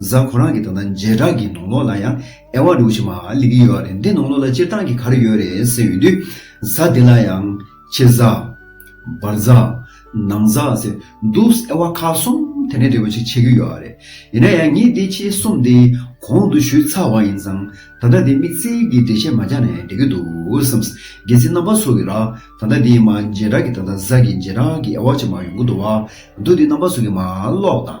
གཟའ་ཁོ་རང་གི་ད་ལྟ་མཇལ་དྲག་གི་ནང་ལོག་ལ་ཡང་ཨེ་བ་འདུག་ཅི་མ་ལི་གི་ཡོད་རེད་འདི་ནང་ལོག་ལ་སྤྱིར་བཏང་གི་ག་རེ་ཡོད་རེད་ཟེར་ཡོད་དུས་གཟའ་དེ་ལ་ཡང་ཕྱི་གཟའ། བར་གཟའ། ནང་གཟའ་ཟེར་འདུག་ཨེ་བ་ཁ་གསུམ་དེ་འདྲའི་འབྲས་བུ་ཅིག་བྱེད་ཀྱི་ཡོད་རེད་ཡིན་ན་ཡང་ངས་འདི་ཕྱི་གསུམ་དེ་གོང་དུ་ཞུས་ཚར་བ་ཡིན་ཙང་ད་ལྟ་འདི་དམིགས་བསལ་གྱི་འགྲེལ་བཤད་མ་རྒྱག་ནས་འགྲིག་གི་འདུག་བསམས། རྒྱལ་སྲིད་རྣམ་པ་ཚོ་གི་ར་ད་ལྟ་འདི་མ་མཇལ་དྲག་གི་ད་ལྟ་གཟའ་གི་མཇལ་དྲག་གི་ཨེ་བ་ཅི་མ་ཡོང་གི་འདུག་བ་འདུག་འདི་རྣམ་པ་ཚོ་གི་མ་ཀློག་དང་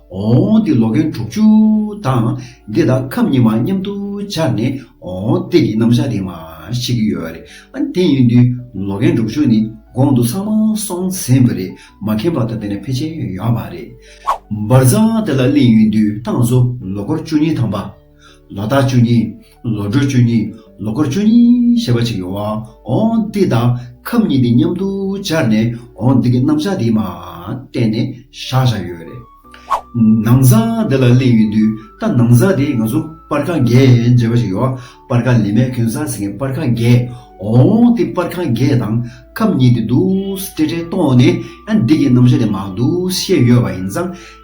འོང་སྟེ་ལོ་གན་དྲུག་ཅུ་དང་འདི་དང་ཁམས་གཉིས་མ་མཉམ་དུ་སྦྱར་ནས་འོང་སྟེ་ཀྱི་རྣམ་བཞག་དེ་མ་ཤེས་ཀྱི་ཡོད་རེད་དེ་ཡིན་དུས་ལོ་གན་དྲུག་ཅུ་ནི་གོང་དུ་ཚང་མ་སོང་ཟིན་པ་རེད་མ་མཁྱེན་པ་དང་དེ་ནས་ཕལ་ཆེར་ཡོད་པ་རེད། འབར་ཚང་དེ་ལ་གླིང་ཡོད་དུས་ཏང་སོ་ལོ་འཁོར་བཅུ་གཉིས་དང་པ། ལོ་རྟགས་བཅུ་གཉིས། ལོ་འགྲོས་བཅུ་གཉིས་ལོ་འཁོར་བཅུ་གཉིས་ཞེས་པ་ཅིག་ཡོང་བ་འོང་འདི་དང་ཁབ་གཉིས་འདི་མཉམ་དུ་སྦྱར་ནས་འོང་འདི་གི་རྣམ་གཞག་འདིའི་མ་གཏན་ནས་བཞག་བཞག་ཡོད་རེད། ནང་བཟང་འདི་ལ་གླེང་ཡོད་དུས་ད་ནང་བཟང་དེ་ང་ཚོ་པར་ཁང་རྒྱས་འབྱེད་པ་ཅིག་ཡོང་བ་པར་ཁང་ལས་མེད་གོན་ས་ཟེར་མཁན་པར་ཁང་རྒྱས་འོང་འདི་པར་ཁང་རྒྱས་དང་ཁབ་གཉིས་འདི་འདུག་སྤྲེལ་ཕྲེང་སྟོང་ནས་ཡང་འདི་གི་རྣམ་གཞག་འདི་མང་འདུག་བཤད་ཡོད་པ་ཡིན་ཙང་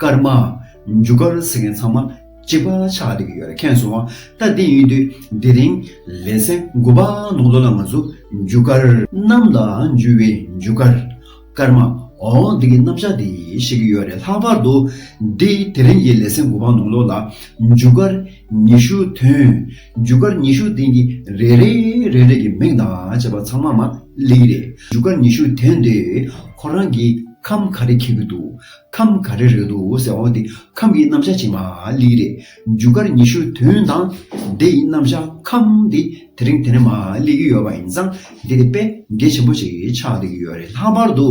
ཀརྨ། མཇུག་སྐར་ཟེར་མཁན་ཚང་མ་གཅིག་པ་ཆགས་བསྡད་ཀྱི་ཡོད་རེད་མཁྱེན་སོང། ད་དེ་ཡིན་དུས་དེ་རིང་ལེ་ཚན་དགུ་པ་ནང་ཚོགས་ལ་ང་ཚོ་མཇུག་སྐར། གནམ་ལ་འཇུ་བའི་མཇུག་སྐར། ཀརྨ། འོ་འདི་གི་རྣམ་བཞག་དེ་ཤེས་ཀྱི་ཡོད་རེད་ལྷག་པར་དུ་འདི་དེ་རིང་གི་ལེ་ཚན་དགུ་པ་ནང་ལོགས་ལ་མཇུག་སྐར་ཉི་ཤུ་ཐོན། མཇུག་སྐར་ཉི་ཤུ་དེ་གི་རེ་རེ་རེ་རེ་གི་མིང་དང་བྱས་པ་ཚང་མ་མ་གླེགས་རེད་མཇུག་སྐར་ཉི་ཤུ་ཐོན་དེ་ཁོ་རང་གི་ཁམས་ག་རེ་འཁྱེར་གྱི་འདུག་ཁམས་ག་རེ་རེད་འདུག་ཟེར་བ་འདི་ཁམས་ཀྱི་རྣམ་གཞག་ཅིག་མ་ལི་རེད། འཇུག་སྒར་ཉི་ཤུ་དོན་དང་སྡེ་ཡི་རྣམ་གཞག་ཁམས་འདི་དེ་རིང་དེ་ནས་མ་ལི་གི་ཡོད་པ་ཡིན་ཙང་འདི་དེ་དཔེ་འགེལ་ཆེན་པོ་ཞིག་ཆགས་བསྡད་ཀྱི་ཡོད་རེད་ལྷག་པར་དུ་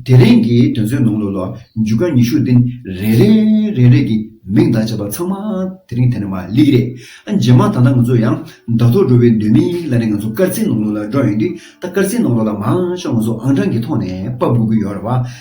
དེ་རིང་གི་དོན་ཚོའི་ནང་དུ་ལོ་འཇུག་སྒར་ཉི་ཤུ་འདི་རེ་རེ་རེ་རེ་གི་མིང་བརྡ་བྱས་པ་ཚང་མ་དེ་རིང་དེ་ནས་མ་ལི་གི་རེད། རྗེས་མ་ད་ལྟ་ང་ཚོ་ཡང་དྲ་ཐོག་འགྲོ་བའི་འདོད་མི་ལ་ནས་ང་ཚོ་སྐར་རྩིས་ནང་ལོགས་ལ་འགྲོ་ཡོང་དུས་ད་སྐར་རྩིས་ནང་ལོགས་ལ་མང་ཤོས་ང་ཚོ་ཨང་གྲངས་ཀྱི་ཐོག་ནས་དཔའ་འབུ་གི་ཡོད་རེད་བ།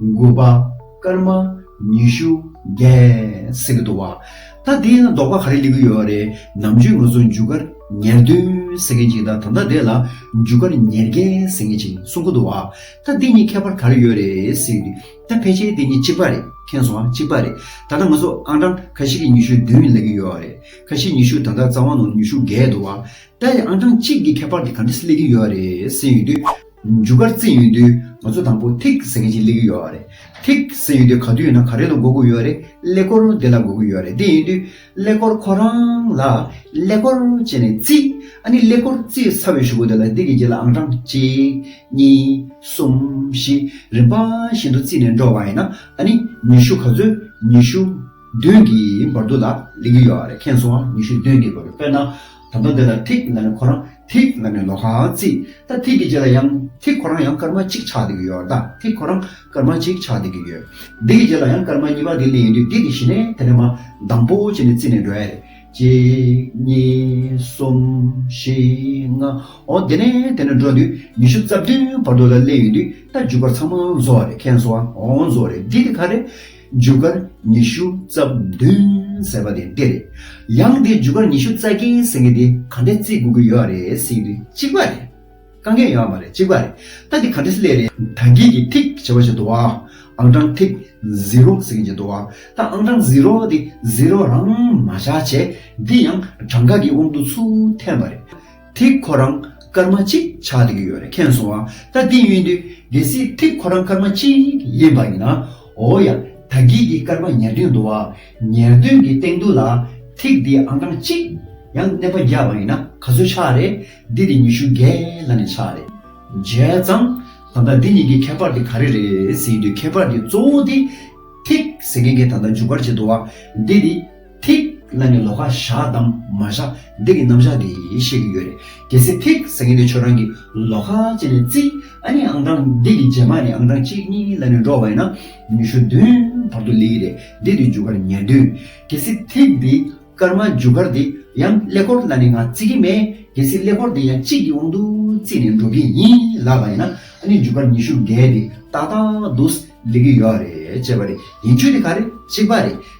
དགུ་པ། སྐར་མ། ཉི་ཤུ། རྒྱལ། ཟེར་གྱི་འདུག་བ། ད་དེ་ཡང་ལྡོག་པ་ག་རེ་ལེན་གྱི་ཡོད་རེད་ནམ་རྒྱུན་ང་ཚོ་མཇུག་སྐར་ཉེར་བདུན་ཟེར་མཁན་གྱི་ད་ད་ལྟ་དེ་ལ་མཇུག་སྐར་ཉེར་བརྒྱད་ཟེར་མཁན་གྱི་གསུང་གི་འདུག་བ། ད་འདི་གཉིས་ཁྱད་པར་ག་རེ་ཡོད་རེད། ད་ཕལ་ཆེར་དེ་གཉིས་གཅིག་པ་རེད་མཁན་སོང་གཅིག་པ་རེད་ད་ལྟ་ང་ཚོ་ཨང་གྲངས་ག་ཞིག་གི་ཉི་ཤུ་བདུན་ལེན་གྱི་ཡོད་རེད་ག་ཞིག་ཉི་ཤུ་ད་ལྟ་རྩ་བ་ནང་ཉི་ཤུ་བརྒལ་འདུག་བ། ད་ཡང་ཨང་གྲངས་གཅིག་གི་ཁྱད་པར་དེ་ག་འདྲས་ལེན་གྱི་ཡོད་རེད་ཟེར་ཡོད་དུས། མཇུག་སྒར་རྩེ་ཡོད་དུས་ང་ཚོ་དང་པོ་ཐིག་ཟེར་མཁན་ཞིག་སླེབས་ཀྱི་ཡོད་རེད། ཐིག་ཟེར་ཡོད་དུས་ག་དུས་ཡིན་ན་ག་རེ་ལ་སྒུག་གི་ཡོད་རེད་ཀླད་ཀོར་དེ་ལ་སྒུག་གི་ཡོད་རེད་དེ་ཡིན་དུས་ཀླད་ཀོར་ཁོ་རང་ལ་ཀླད་ཀོར་བྱས་ནས་བརྩིས། ཨ་ནི་ཀླད་ཀོར་བརྩིས་ཚར་བའི་ཞུ་སྒོ་དེ་ལ་ཐིག་གི་རྗེས་ལ་ཨང་གྲངས་གཅིག་གཉིས་གསུམ་བཞི་རིམ་པ་བཞིན་དུ་བརྩིས་ནས་འགྲོ་བ་ཡིན་ན་ཨ་ནི་ཉི་ཤུ་ག་ཚོད་ཉི་ཤུ་བདུན་གྱི་བར་དུ་ལ་སླེབས་ཀྱི་ཡོད་རེད་མཁྱེན་སོང་ཨ་ཉི་ཤུ་བདུན་གྱི་བར་དུ་དཔེར་ན། དམ་པ་འདི་ལ་ཐིག་ལ་ནས་ཁོ་རང་ཐིག་ལ་ནས་ལོ་གང་བརྩིས་ད་ཐིག་གི་རྗེས་ལ་ཡང་ཐིག་ཁོ་རང་ཡང་སྐར་མ་གཅིག་ཆགས་བསྡད་ཀྱི་ཡོད་ད་ཐིག་ཁོ་རང་སྐར་མ་གཅིག་ཆགས་བསྡད་ཀྱི་ཡོད་འདི་གི་རྗེས་ལ་ཡང་སྐར་མ་གཉིས་པ་དེ་ལས་ཡིན་དུས་འདི་དེ་བཞི་ནས་དེ་ནས་མ་དང་པོ་བྱས་ནས་བརྩིས་ནས་འགྲོ་ཡ་རེད་གཅིག་གཉིས་གསུམ་བཞི་ལྔ་ཨོ་དེ་ནས་དེ་ནས་འགྲོ་དུས་ཉི་ཤུ་རྩ་བདུན་བར་དུ་ལ་ལས་ཡིན་དུས་ད་འཇུག་པར་ཚང་མ་བཟོ་བ་རེད་མཁན་བཟོ་བ་ཨོ་བཟོ་བ་རེད་འདི་དེ་ག་རེད། རྒྱུ་སྐར་ཉི་ཤུ་རྩ་བདུན་ཟེར་བ་དེ་འདི་རེད། ཡང་འདི་རྒྱུ་སྐར་ཉི་ཤུ་རྩ་བརྒྱད་ཡིན་ཟེར་མཁན་དེ་ག་འདྲས་བརྩི་དགོས་ཀྱི་ཡོད་རེད་ཟེར་གྱི་འདུག་གཅིག་པ་རེད། དཀའ་ངལ་ཡོད་ཨ་མ་རེད་གཅིག་པ་རེད། ད་འདི་ག་འདྲས་སླད་རེད། ད་འགྱིག་གི་ཐིག་ཞེས་པ་ཞིག་འདུག་ཨ། ཨང་གྲངས་ཐིག Zero ཟེར་གྱི་འཇིག་འདུག་ཨ། ད་ཨང་གྲངས Zero འདི Zero རང་མ་བཞག་བྱས། འདི་ཡང་གྲངས་ཀ་གི་དབང་དུ་ཚུད་ཐལ་མ་རེད། ཐིག་ཁོ་རང་སྐར་མ་གཅིག་ཆགས་བསྡད་ཀྱི་ཡོད་རེད་མཁྱེན་སོང་ང་ད་འདི་ཡིན་དུས་གལ་སྲིད་ཐིག་ཁོ་རང་སྐར་མ་གཅིག་ཡིན་པ་ཡིན་ན་འོ་ཡ་ད་སྒེག་གི་སྐར་མ་ཉེར་བདུན་འདུག་བ་ཉེར་བདུན་གྱི་སྟེང་དུ་ལ་ཐིག་འདི་ཨང་གྲངས་གཅིག་ཡང་གནས་པ་བརྒྱ་བ་ཡིན་ན་ག་ཚོད་ཆགས་རེད་འདི་དེ་ཉི་ཤུ་བརྒྱད་ལ་ནས་ཆགས་རེད་བརྒྱད་ཙམ་ད་ལྟ་འདི་གཉིས་ཀྱི་ཁྱད་པར་དེ་ག་རེ་རེད་ཟེར་གྱི་འདུག་ཁྱད་པར་དེ་གཙོ་བོ་དེ་ཐིག་ཟེར་མཁན་གྱི་ད་ལྟ་འཇུག་པར་བྱེད་འདུག་བ་འདི་དེ། ཐིག་ལེ་ནི་ལོ་ཀ་བཞག་དང་མ་བཞག་འདི་གི་རྣམ་གཞག་གིས་ཤེས་ཀྱི་ཡོད་རེད་གལ་སྲིད་ཐིག་ཟེར་མཁན་དེ་ཁྱོད་རང་གི་ལོ་ཀ་ཅིག་ནས་རྩི་ཨ་ནི་ཨང་གྲངས་འདི་གི་རྗེས་མ་ནས་ཨང་གྲངས་གཅིག་གཉིས་ལ་ནི་འགྲོ་བ་ཡིན་ན་ཉི་ཤུ་བདུན་བར་དུ་ལེགས་རེད་འདི་དེ་རྒྱུ་སྐར་ཉེར་བདུན་གལ་སྲིད་ཐིག་འདི་སྐར་མ་རྒྱུ་སྐར་འདི་ཡང་ཀླད་ཀོར་ལ་ནི་ང་རྩི་གི་མེད་གལ་སྲིད་ཀླད་ཀོར་འདི་ཡང་གཅིག་གི་དབང་དུ་རྩིས་ནས་འགྲོ་གི་ཡིན་ལགས་པ་ཡིན་ན་ཨ་ནི་རྒྱུ་སྐར་ཉི་ཤུ་བརྒྱད་འདི་ཏག་ཏག་འདུག་ལེགས་ཀྱི་ཡོད་རེད་ཅེས་པ་རེད་ཡིན་ཆོས་དེ་ག་རེད་གཅིག་པ་རེད།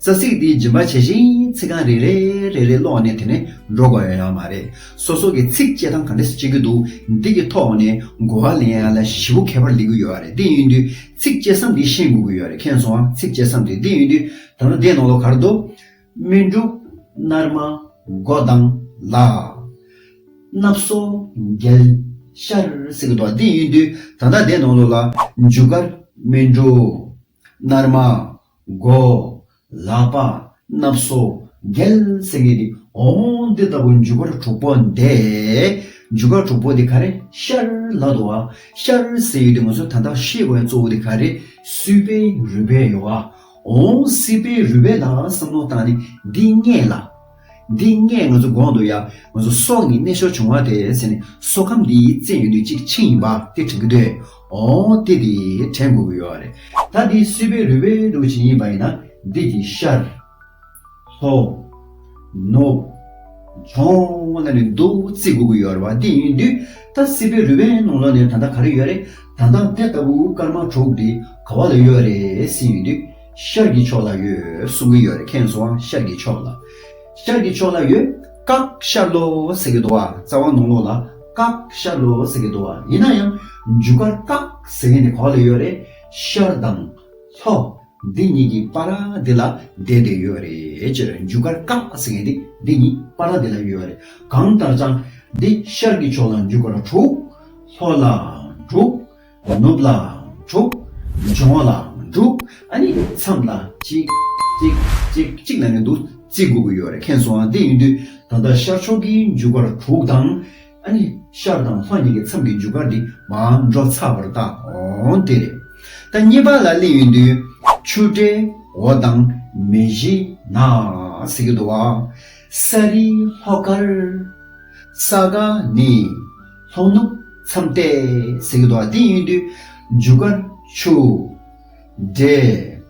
རྩ་ཚིག་འདིའི་རྗིན་པ་ཇི་བཞིན་ཚིག་རྐང་རེ་རེ་རེ་རེ་ཀློག་ནས་དེ་ནས་འགྲོ་དགོས་ཡོད་ཡ་མ་རེད། སོ་སོ་གི་ཚིག་བཅད་དང་ག་འདྲས་སུ་བཅད་རྒྱུ་འདུག་འདི་གི་ཐོག་ནས་གོ་བ་ལེན་ཡ་ལ་བཞི་བོ་ཁྱད་པར་ལེན་གི་ཡོད་རེད་འདི་ཡིན་དུས་ཚིག་བཅད་སམ་འདི་ཤེས་དགོས་གི་ཡོད་རེད་མཁྱེན་སོང་ཨ་ཚིག་བཅད་སམ་དེ་འདི་ཡིན་དུས་ད་ནོ་འདའི་ནང་ལོ་གར་འདུག། སྨིན་དྲུག། སྣར་མ། མགོ་བདང། ལག། སྣབས་གསོ། མགལ། ཤར། ཟེར་གི་འདུག་འདི་ཡིན་དུས་ད་ལྟ་འདའི་ནང་ལོ་ལ། མཇུག་གར། སྨིན་དྲུག། སྣར་མ། མགོ། ལག་པ། སྣབས་སོ། རྒྱལ། སེང་གེ་ནི། འོ། འདི་ལྟ་བུ་འཇུག་པ་དྲུག་པོ་འདི། འཇུག་པ་དྲུག་པོ་འདི་ག་རེ། ཤར། ལ་དུ་བ། ཤར། སེ་ཡུལ་འདི་ངོ་སོ་ད་ལྟ་ཤེས་བའི་གཙོ་བོ་འདི་ག་རེ། སུལ་པའི་རུས་པའི་ཡོ་བ། འོ། སིལ་པའི་རུས་པའི་ལ་བསམ་མནོ་བཏང་ནས་འདི་རྙེད་ལ། འདི་སྔས་ང་ཚོ་གོང་དུ་ཡང་ང་ཚོ་སྲོག་ནི་གནས་ཤོར་བྱུང་བ་དེ་ཟེར་ནས་སྲོག་ཁམས་འདིའི་རྩེད་ཡོན་དུ་གཅིག་ཆིངས་ཡིན་པ་དེ་དྲན་གྱི་འདོད། འོང་སྟེ་དེ་དྲན་དགོས་ཀྱི་ཡོད་རེད། ད་འདི་སྲིད་པའི་རུས་པའི་གདུག་ཅིག་ཡིན་པ་ཡིན་ན་འདི་ཀྱི་ཤར། ལྷོ། ནུབ། བྱང་ལ་ནི་གདུག་རྩིས་དགོས་ཀྱི་ཡོད་རེད་བ་དེ་ཡིན་དུས་ད་སྲིད་པའི་རུས་པའི་ནང་ལོགས་ནས་ད་ད་ག་རེ་ཡོད་རེད། ད་ད་དེ་ལྟ་བུའི་སྐར་མ་དྲུག་འདི་ག་བ་ལ་ཡོད་རེད་ཟེར་ཡོད་དུས། ཤར་གྱི་ཕྱོགས་ལ་ཡོད་གསུང་གི་ཡོད་རེད་ཁྱེད་ཚོའང་ཤར་གྱི་ཕྱོགས་ལ། ཤར་གྱི་ཕྱོགས་ལ་ཡོད་བཀག་ཤར་ལོ་ཟེར་གི་འདུག་ཨ་རྩ་བ་ནོར་ལོག་ལ་བཀག་ཤར་ལོ་ཟེར་གི་འདུག་ཨ་ཡིན་ན་ཡང་མཇུག་སྐར་བཀག་ཟེར་མཁན་དེ་གོག་ལ་ཡོད་རེད་ཤར་དང། ལྷོ། འདི་གཉིས་ཀྱི་པ་ར་དེ་ལ་བསྡད་དེ་ཡོད་རེད་སྤྱིར་མཇུག་སྐར་བཀག་ཟེར་མཁན་དེ་འདི་གཉིས་པ་ར་དེ་ལ་ཡོད་རེད་གང་ལྟར་ཀྱང་འདི་ཤར་གྱི་ཕྱོགས་ལ་མཇུག་སྐར་དྲུག། ལྷོ་ལ་དྲུག། ནུབ་ལའང་དྲུག། འབྱུང་ལའང་དྲུག། ཨ་ནི་མཚམས་ལ་གཅིག། གཅིག། གཅིག། གཅིག་ལ་ནི་འདུག་རྩིས་དགོས་ཀྱི་ཡོད་རེད་མཁན་སོང་ཨ་དེ་ཡིན་དུས་ད་ལྟ་ཤར་ཕྱོགས་ཀྱི་མཇུག་སྒར་དྲུག་དང། ཨ་ནི་ཤར་དང་ལྷོ་གཉིས་ཀྱི་མཚམས་ཀྱི་མཇུག་སྒར་འདི་མའང་འགྲོ་ཚར་བར་བལྟ། འོང་དེ་རེད། ད་གཉིས་པ་ལ་གླིང་ཡིན་དུས། ཆུ་སྤྲེ། འོ་དང། མེ་བཞི། ན། ཟེར་གྱི་འདུག་བ། ས་རི། ལྷོ་སྒར། ས་དགའ། ནི། ལྷོ་ནུབ་མཚམས་གཏད། གསེར་གྱི་རྡོ་བ་སྟེང་གཡོན་དུ། འཇུག་སྒར་ཆུ། འབྲས།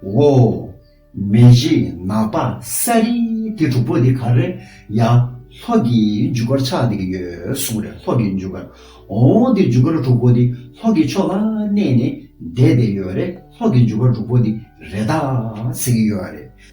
འོ། མེ་བཞི་ནག་པ་ས་རི། དེ་དྲུག་པོ་དེ་གར་རེད་ཡ། ལྷོ་གི་འཇུག་སྒར་ཆགས་འདི་གི་ཡོད་གསུངས་རེད་ལྷོ་གི་འཇུག་སྒར། འོ་འདིར་འཇུག་སྒར་དྲུག་པོ་དེ་ལྷོ་གི་ཕྱོགས་ལ་གནས་ནས་བསྡད་བསྡད་ཡོད་རེད་ལྷོ་གི་འཇུག་སྒར་དྲུག་པོ་དེ་རེད་ད་ཟེར་གྱི་ཡོད་རེད།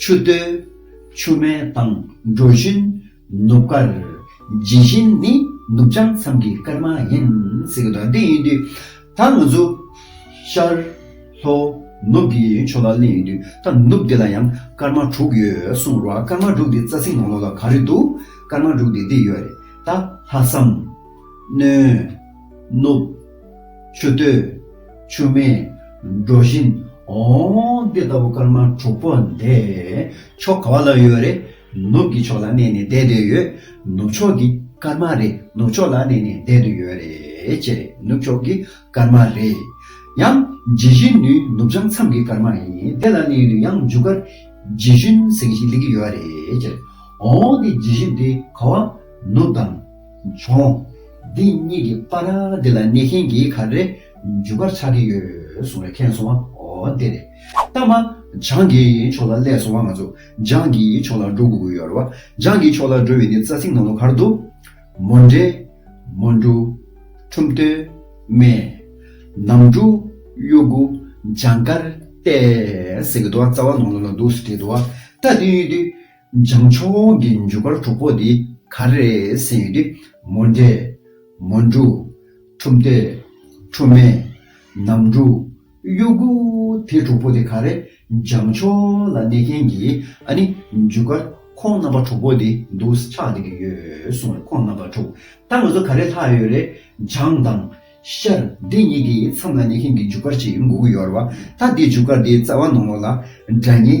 ཆུ་སྟོད། ཆུ་སྨད་དང་འབྲོ་བཞིན། ནུབ་དཀར། ཇི་བཞིན་ནི་ནུབ་བྱང་མཚམས་ཀྱི་སྐར་མ་ཡིན། ཟེར་གྱི་འདུག་འདི་ཡིན་དུས་ད་ང་ཚོ། ཤར། ལྷོ། ནུབ་ཀྱི་ཕྱོགས་ལ་གླེང་ཡིན་དུས་ད་ནུབ་འདི་ལ་ཡང་སྐར་མ་དྲུག་ཡོད་གསུངས་རོགས་ཨ་སྐར་མ་དྲུག་འདི་རྩ་ཚིག་ནང་ལོགས་ལ་ག་རེ་འདུག་སྐར་མ་དྲུག་འདི་འདི་ཡོད་རེད་ད། ལྷ་བསམ། སྣོན། ནུབ། ཆུ་སྟོད། ཆུ་མེ། འབྲོ་བཞིན། འོང། འདི་ལྟ་བུ་སྐར་མ་དྲུག་པོ་འདི། ཕྱོགས་ག་བ་ལ་ཡོད་རེད། ནུབ་ཀྱི་ཕྱོགས་ལ་གནས་ནས་བསྡད་དུ་ཡོད། ནུབ་ཕྱོགས་ཀྱི་སྐར་མ་རེད་ནུབ་ཕྱོགས་ལ་གནས་ནས་བསྡད་དུ་ཡོད་རེད་ཅེ་རེད་ནུབ་ཕྱོགས་ཀྱི་སྐར་མ་རེད། ཡང། ཇི་བཞིན་ནུའི་ནུབ་བྱང་མཚམས་ཀྱི་སྐར་མ་ཡིན་དེ་ལ་གནས་ཡུལ་ཡང་མཇུག་སྐར། ཇི་བཞིན་ཟེར་གྱི་ཞིག་ལེགས་ཀྱི་ཡོད་རེད་ཅེ་རེད། འོང་འདི་ཇི་བཞིན་འདི་ག་བ། ནུབ་དང། བྱུང། འདི་གཉིས་ཀྱི་པ་ར་འདི་ལ་གནས་མཁན་གྱི་ག་རེ་འཇུག་པར་ཆགས་ཀྱི་ཡོད་གསུངས་པའི་མཁན་སོང་བ་འོ་དེ་རེད་གཏམ་མ། འཇང་གི་ཕྱོགས་ལ་སླད་སོང་བ་ང་ཚོ་འཇང་གི་ཕྱོགས་ལ་འགྲོ་དགོས་ཀྱི་ཡོད་རེད་བ། འཇང་གི་ཕྱོགས་ལ་འགྲོ་བའི་འདི་རྩ་ཚིག་ནང་ལོ་གར་འདུག། མོ་འདྲེ། མོ་འབྲུ། ཁྲུམས་སྟོད། སྨད། ནམ་འབྲུ། གཡོ་དགུ། འཇང་དཀར། ཏས། ཟེར་གྱི་འདུག་བ་རྩ་བ་ནང་ལོ་ལ་འདུག་ཟེར་གྱི་འདུག་བ། ད་དུས་ཡུན་དུས། འཇང་ཆོས་འོང་གི་མཇུག་སྒར་དྲུག་པོ་འདི་ག་རེད་ཟེར་ཡོད་དུས། མོ་འདྲེ། མོ་འབྲུག། ཁྲུམས་སྟེ། ཁྲུམས་མེ། ནམ་འབྲུག། གཡོ་སྒུག། དེ་དྲུག་པོ་འདི་ག་རེད་འཇང་ཆོས་འོང་ལ་གནས་མཁན་གྱི་ཨ་ནི་མཇུག་སྒར་ཁོང་རྣམ་པ་དྲུག་པོ་འདི་འདུག་ས་ཆགས་བསྡད་ཀྱི་ཡོད་གསུང་བས་ཁོང་རྣམ་པ་དྲུག་ད་ང་ཚོ་ག་རེ་ལྷག་ཡོད་རེད་འཇང་དང། ཤར། འདི་གཉིས་ཀྱི་མཚམས་ལ་གནས་མཁན་གྱི་མཇུག་སྒར་ཅིག་འགུག་གི་ཡོད་རེད་བ་ད་འདི་མཇུག་སྒར་འདིའི་རྩ་བ་ནང་ལོགས་ལ་སྒྲ་སྙན།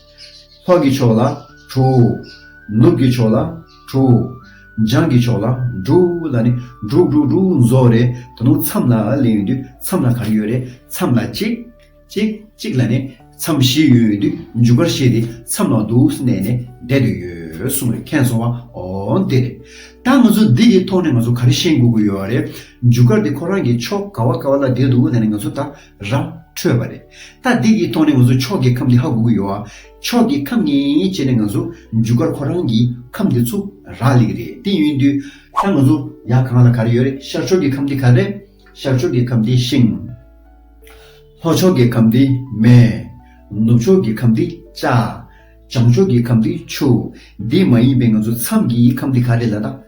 ལྷོ་ཀྱི་ཕྱོགས་ལ་བྲོ། ནུབ་ཀྱི་ཕྱོགས་ལ་བྲོ། འཇང་གི་ཕྱོགས་ལ་བྲོ། ལ་ནི། བྲོ་བྲོ་བྲོ་བཟོ་རེད་ད་དུང་མཚམས་ལ་ལས་ཡོད་དུས་མཚམས་ལ་གར་ཡོད་རེད་མཚམས་ལ་གཅིག། གཅིག་གཅིག་ལ་ནི། མཚམས་བཞི་ཡོད་དུས་མཇུག་གར་བཤད་དེ་མཚམས་ལ་འདུག་ཟེར་ནས་ནི་བསྡད་དུས་ཡོད་གསུངས་རེད་མཁྱེན་སོང་བ་ཨོ་འདི་རེད། ད་ང་ཚོ་འདི་གི་ཐོག་ནས་ང་ཚོ་ག་རེ་ཤེས་དགོས་ཀྱི་ཡོད་རེད། མཇུག་གར་དེ་ཁོ་རང་གི་ཕྱོགས་ག་བ་ག་བ་ལ་བསྡད་འདུག་ལ་ནི་ང་ཚོ་ད་ར་འཕྲོད་པ་རེད། ད་འདི་གིས་ཐོག་ནས་ང་ཚོ་ཕྱོགས་ཀྱི་ཁམས་འདི་ཧ་གོ་གི་ཡོད། ཕྱོགས་ཀྱི་ཁམས་ངན་བྱས་ནས་ང་ཚོ་འཇུ་སྐར་ཁོ་རང་གི་ཁམས་འདི་ཚུགས་ར་ལེགས་རེད་དེ་ཡོིན་དུས། ད་ང་ཚོ་ཡ་གང་ལ་ག་རེ་ཡོད་རེད་ཤར་ཕྱོགས་ཀྱི་ཁམས་འདི་ག་རེད། ཤར་ཕྱོགས་ཀྱི་ཁམས་འདི་ཤིང། ལྷོ་ཕྱོགས་ཀྱི་ཁམས་འདི་མེ། ནུབ་ཕྱོགས་ཀྱི་ཁམས་འདི་ལྕགས། བྱང་ཕྱོགས་ཀྱི་ཁམས་འདི་ཆུ། འདི་མ་ཡིན་པའི་ང་ཚོ་མཚམས་ཀྱི་ཁམས་འདི་ག་རེད་ལ་ད།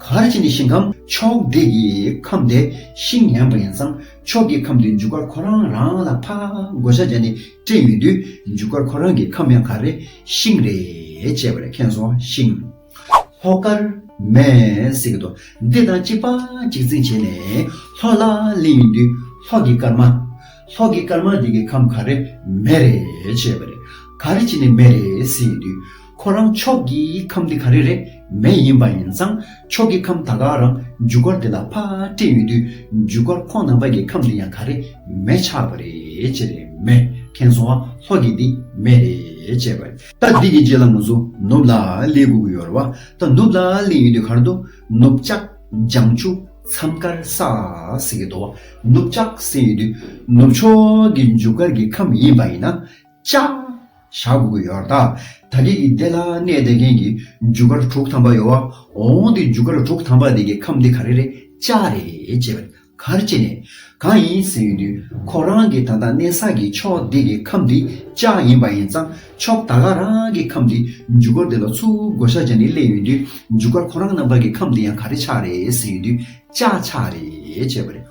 གར་བྱེད་ནི་ཞིང་ཁམས་མཆོག་འདི་ཡི་ཁམས་དེ་ཤིང་ངན་པ་ཡིན་ཙང་མཆོག་གི་ཁམས་དེའི་འཇུག་སྒར་ཁོ་རང་རང་ལ་ཕ་བགོ་བྱ་བྱས་ནས་སྤྲད་ཡོད་དུས་འཇུག་སྒར་ཁོ་རང་གི་ཁམས་ཡང་གར་རེད་ཤིང་རེད་ཅེས་པ་ལས་ཁེངས་སོང་ཤིང། ལྷོ་ཀར། མེས་སྲེག་གི་རྡོ་རྡེག་དང་གཅིག་པ་གཅིག་འཛིང་བྱས་ནས་ལྷོ་ལ་གླིང་ཡིན་དུས་ལྷོ་གི་སྐར་མ། ལྷོ་གི་སྐར་མ་འདི་གི་ཁམས་གར་རེད་མེ་རེད་ཅེས་པ་རེད། གར་བྱེད་ནི་མེ་རེད་སྲིད་ཡིན་དུས། ཁོ་རང་ཕྱོགས་ཀྱི་ཁམས་འདི་ག་རེ་རེ་མེ་ཡིན་པ་ཡིན་ཙང་ཕྱོགས་ཀྱི་ཁམས་ད་ག་རང་འཇུག་སྒར་འདི་ལ་ཕ་སྤྲད་ཡོད་དུས་འཇུག་སྒར་ཁོང་ནང་པ་ཀྱི་ཁམས་འདི་ཡང་ག་རེ་མེ་ཆགས་པ་རེད་ཅེས་རེད་མེ་མཁན་སོང་བ་ལྷོ་ཀྱི་འདི་མེ་རེད་ཅེས་པ། ད་འདི་གི་རྗེས་ལ་ངོ་ཚོ་ནུབ་ལ་སླེ་དགོས་ཀྱི་ཡོད་རེད་བ་ད་ནུབ་ལ་སླེ་ཡོད་དུས་གར་འདུག་ནུབ་ལྕགས་ལྗང་ཆུ་མཚམས་དཀར་ས་ཟེར་གྱི་འདུག་བ་ནུབ་ལྕགས་ཟེར་ཡོད་དུས་ནུབ་ཕྱོགས་ཀྱི་འཇུག་སྒར་གྱི་ཁམས་ཡིན་པ་ཡིན་ན། ཅང། ཞག་དགུ་དགུ་ཡོར་དག་ད་གེ་གི་སྡེ་ལ་གནས་བསྡད་མཁན་གྱི་འཇུ་སྒར་དྲུག་ཐམ་པ་ཡོའོ་འོང་དེ་འཇུ་སྒར་དྲུག་ཐམ་པ་དེ་གི་ཁམས་དེ་ག་རེ་རེད་ཅག་རེད་ཅེས་པ་གར་བཅད་ནས་གང་ཡིན་ཟེར་ཡོད་དུས་ཁོ་རང་གི་ད་ལྟ་གནས་ས་གི་ཕྱོགས་དེ་གི་ཁམས་དེ་ཅག་ཡིན་པ་ཡིན་ཙང་ཕྱོགས་ད་ག་རང་གི་ཁམས་དེ་འཇུ་སྒར་དེ་ལ་ཚུར་བགོ་བཤའ་བྱས་ནས་སླེབས་ཡོད་དུས་འཇུ་སྒར་ཁོ་རང་རྣམ་པ་གི་ཁམས་དེ་ཡང་ག་རེ་ཆགས་རེད་ཟེར་ཡོད་དུས་ཅག་ཆགས་རེད་ཅེས་པ་རེད།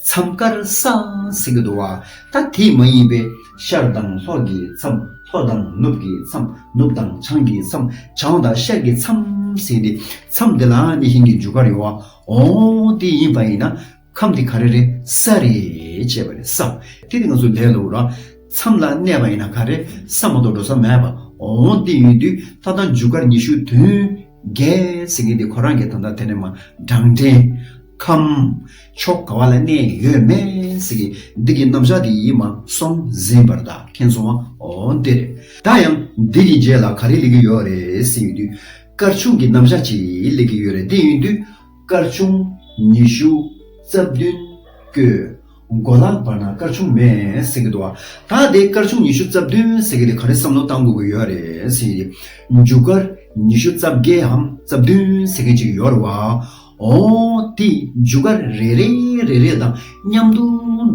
མཚམས་དཀར་སང་སེང་གི་དུ་བ་ད་དེ་མ་ཡིན་པའི་ཤར་དང་ལྷོ་གི་མཚམས་ལྷོ་དང་ནུབ་ཀྱི་མཚམས་ནུབ་དང་བྱང་གི་མཚམས་བྱང་དང་ཤར་གྱི་མཚམས་ཟེར་ཏེ་མཚམས་དེ་ལའང་ནི་ཤིང་གི་རྒྱུ་སྐར་ཡོད་ཨོ་དེ་ཡིན་པ་ཡིན་ན་ཁམས་དེ་ག་རེ་རེད་ས་རེད་ཅེས་པ་རེད་སམ་དེ་དེ་ང་ཚོ་ལས་ལོག་ར་མཚམས་ལ་གནས་པ་ཡིན་ན་ག་རེ་ས་མ་གཏོགས་འགྲོ་ས་མེད་པ་ཨོ་དེ་ཡོད་དུས་ད་དང་རྒྱུ་སྐར་ཉི་ཤུ་དུས་འགལ་ཟེར་མཁན་དེ་ཁོ་རང་གི་ད་ལྟ་དེ་ནས་མ་བགྲང་དྲན་ཁམས། ཕྱོགས་ག་བ་ལ་གནས་ཡོད་མེད་ཀྱི་འདི་གི་རྣམ་གཞག་འདི་ཡིད་མ་སོམ་ཟིན་པར་བདག་མཁྱེན་སོང་བ་འོ་འདིར་བདག་ཡང་འདི་གི་རྗེས་ལ་ག་རེ་ལས་ཀྱི་ཡོད་རེད་ཟེར་ཡོད་དུས་སྐར་ཆུང་གི་རྣམ་གཞག་ཅིག་ལས་ཀྱི་ཡོད་རེད་དེ་ཡིན་དུས་སྐར་ཆུང་ཉི་ཤུ་རྩ་བདུན་ཀྱི་མགོ་ལག་བར་ན་སྐར་ཆུང་མེད་ཟེར་གྱི་འདུག་བ་ད་དེ་སྐར་ཆུང་ཉི་ཤུ་རྩ་བདུན་ཟེར་གྱི་དེ་ག་རེ་བསམ་བློ་བཏང་དགོས་ཀྱི་ཡོད་རེད་ཟེར་ཡོད་དུས་མཇུག་སྐར་ཉི་ཤུ་རྩ་བརྒྱད་འམ་རྩ་བདུན་ཟེར་མཁན་ཅིག་ཡོད་རེད་བ། འོ། དེས་མཇུག་སྒར་རེ་རེ་རེ་རེ་དང་མཉམ་དུ་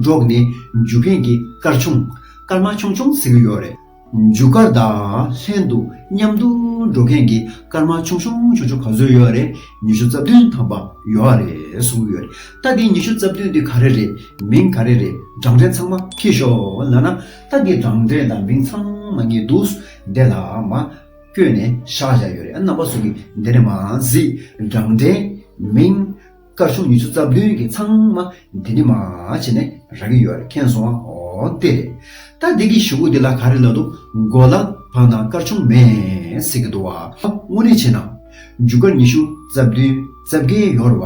འགྲོགས་ནས་མཇུག་མཁན་གྱི་སྐར་ཆུང། སྐར་མ་ཆུང་ཆུང་ཟེར་གྱི་ཡོད་རེད། མཇུག་སྒར་དང་ལྷན་དུ་མཉམ་དུ་འགྲོ་མཁན་གྱི་སྐར་མ་ཆུང་ཆུང་ཆུང་ཆུང་ག་ཚོད་ཡོད་རེད་ཉི་ཤུ་རྩ་བདུན་ཐམ་པ་ཡོད་རེད་གསུང་གི་ཡོད་རེད་ད་དེ་ཉི་ཤུ་རྩ་བདུན་དེ་ག་རེ་རེད་མིང་ག་རེ་རེད་བགྲང་འཕྲེང་ཚང་མ་ཁྱེར་ཤོག་ལ་ན་ད་དེ་བགྲང་འཕྲེང་དང་མིང་ཚང་མ་ངས་འདུག་བསྡད་ལ་མ་བསྐྱོད་ནས་བཞག་བཞག་ཡོད་རེད་ཨ་རྣམ་པ་ཚོ་གིས་འདི་ནས་མ་གཟིགས་རྒྱང་འདྲེན་མིན། སྐར་ཆུང་ཉི་ཤུ་རྩ་བདུན་གྱི་ཚང་མ་འདི་ནས་མ་བྱས་ནས་རག་གི་ཡོད་རེད་མཁྱེན་སོང་ཨ་ཨོ་དེ་རེད་ད་འདི་གི་ཞུ་གུ་འདི་ལ་ག་རེ་ལབ་འདུག་མགོ་ལ་འཕངས་ན་སྐར་ཆུང་མེད་ཟེར་གི་འདུག་བ་དངོས་གནས་བྱས་ན་རྒྱུ་སྐར་ཉི་ཤུ་རྩ་བདུན་རྩ་བརྒྱད་ཡོད་རེད་བ།